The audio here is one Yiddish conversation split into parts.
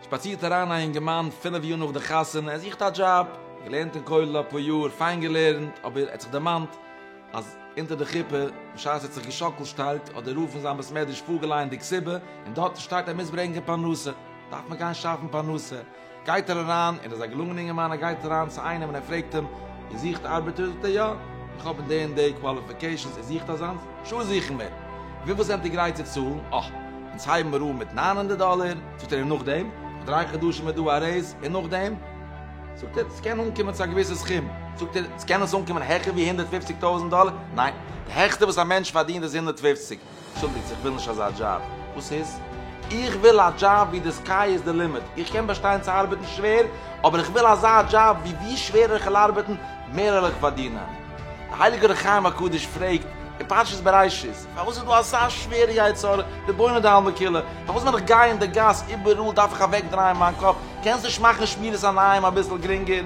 שפאצירט אריין א אינגערמאן פינף יאר נאך די חתונה ער זוכט א דזשאב, געלערנט אין כולל אפאר יאר, פיין געלערנט, אבער ער האט זיך דערמאנט אז אונטער די חופה, בשעת ער האט זיך געשאקלט שטארק, האט דער רב פון זיין בית מדרש פארגעלייענט די כתובה, און דארטן שטייט ער מוז ברענגען פרנסה, דארף מען גיין שאפן פרנסה. גייט ער אריין, ער איז א געלונגענע אינגערמאן, ער גייט אריין צו איינעם און ער פרעגט אים, איר זוכט ארבעטער? זאגט ער, יא, איך האב די און די קוואליפיקעישאנס, איר זוכט אזאנס? שא זוכן מיר! וויפיל זענט איר גרייט צו צאלן? אה, אונז הייבן מיר אן מיט נײַן הונדערט דאלער, זאגט ער, און נאכדעם? נאך דריי חדשים איז דא א רעיז, און נאכדעם? זאגט ער, עס קען אנקומען צו א געוויסע סכום, זאגט ער, ס'קען עס אנקומען העכער ווי הונדערט פֿופֿציק טויזנט דאלער? ניין, די העכסטע וואס א מענטש פארדינט איז הונדערט פֿופֿציק, אנטשולדיגטס איך וויל נישט אזא דזשאב. וואס איז? איך וויל א דזשאב ווי די סקיי איז די לימיט. איך קען באשטיין צו ארבעטן שווער, אבער איך וויל אזא דזשאב ווי ווי שווערער איך וועל ארבעטן, מער וועל איך פארדינען. דער הייליגער אור החיים הקדוש פרעגט אין פרשת בראשית, פארוואס איז דא אזא שווערע יצר הרע, ריבונו דעלמא כולו, פארוואס ווען איך גיי אין די גאס איבעראל דארף איך אוועקדרייען מיין קאפ, קענסט נישט מאכן שמירת עיניים אביסל גרינגער?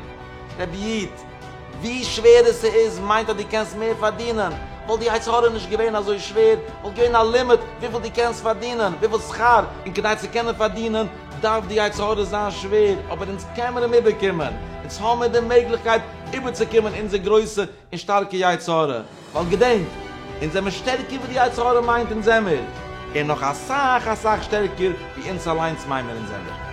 רבי איד. ווי שווערער ס'איז מיינט אז דו קענסט מער פארדינען, וואלט די יצר הרע נישט געווען אזוי שווער, וואלט געווען א לימיט וויפיל דו קענסט פארדינען, וויפיל שכר, און כדי צו קענען פארדינען דארף די יצר הרע זיין שווער, אבער אונז קען מיר אים איבערקומען, אונז האמיר די מעגליכקייט איבערצוקומען אונזער גרויסע און שטארקע יצר הרע. ווייל געדענק, אונז זעמער שטערקער ווי די יצר הרע מיינט אונז זעמער, און נאך אסאך אסאך שטערקער ווי אונז אליינס מיין מיר אונז זעמער.